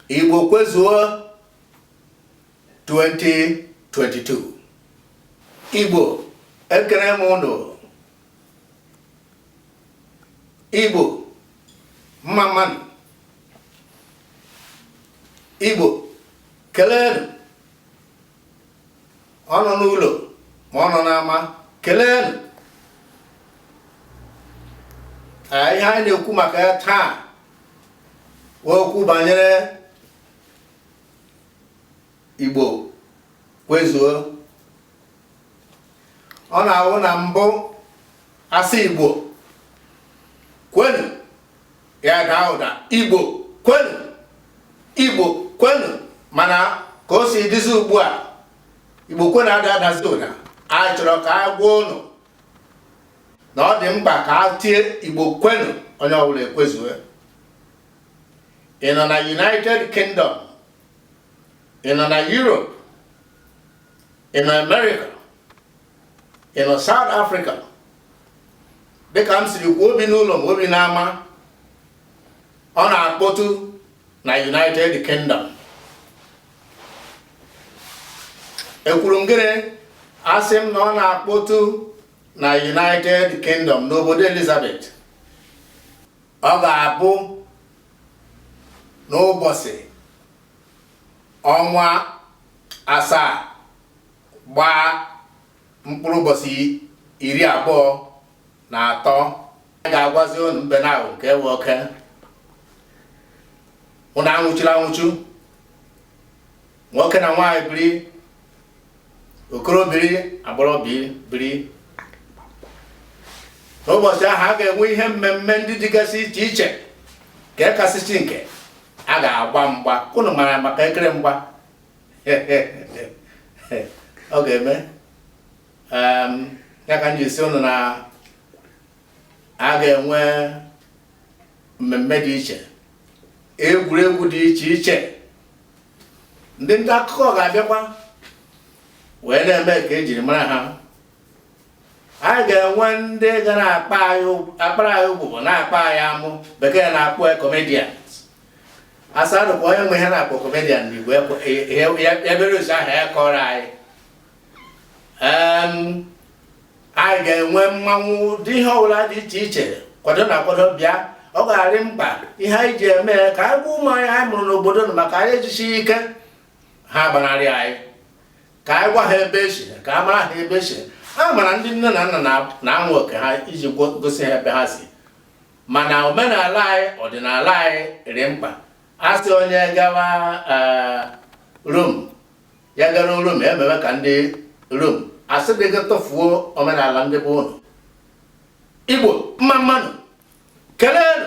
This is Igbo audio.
Igbo kwezuo 2022 Igbo ekele m ụnụ Igbo mma mma nụ Igbo keleenụ ọ nọ n'ụlọ ma ọ nọ n'ama keleenụ ihe anyị na-ekwu maka ya taa wụ okwu banyere igbo kwezuo ọ na-awụ na mbụ a sị igbo kwenu ya daa ụda igbo kwenu igbo kwenu mana ka o si dịzi ugbu a igbo kwenu ada adazi ụda anyị chọrọ ka a gwa ụnụ na ọ dị mkpa ka a tie igbo kwenu onye ọbụla ekwezue ị nọ na united kingdom ị nọ na europe ị nọ america ị nọ South Africa dịka m siri kwuo o bi n'ụlọ ma o bi n'ama ọ na-akpọtụ na United Kingdom ekwuru m gịnị asị m na ọ na-akpọtụ na United Kingdom n'obodo Elizabeth ọ ga-abụ n'ụbọchị ọnwa asaa gbaa mkpụrụ ụbọchị iri abụọ na atọ a ga-agwazi unu mbe na awọ kewe oke unu anwụchila anwụchu nwoke na nwaanyị biri okoro biri agbọghọ biri n'ụbọchị ahụ a ga-enwe ihe mmemme ndị dịgasị iche iche nke kasịsị nke a ga-agba mgba unu mara maka ekere mgba ọ ga-eme ya ka m ji sị ụnụ na a ga-enwe mmemme dị iche egwuregwu dị iche iche ndị nta akụkọ ga-abịakwa wee na-eme ka e jiri mara ha anyị ga-enwe ndị ga na-akpara anyị ụgbụgbọ na-akpa anyị amụ bekee na-akpọ comedian asadụ bụ onye ma ihe a na-akpọ comedian n'igbo ebere ụzọ ahụ ya kọrọ anyị anyị ga-enwe mmanwụ dị ihe ọbụla dị iche iche kwadonụ akwado bịa ọ ga-adị mkpa ihe anyị ji eme ka anyị gwa ụmụ anyị anyị mụrụ n'obodo na maka anyị ejisi ike ha gbanarị anyị ka anyị gwa ha ebe e si ka a mara ha ebe e si a mara ndị nne na nna na ọ wụ oke ha iji gosi ha ebe ha si mana omenala anyị ọdịnala anyị dị mkpa a sị onye gawa eh, rom ya gara rom emewe ka ndị rom asịdịghị tụfuo omenala ndị be unu igbo mma mma nụ keleenụ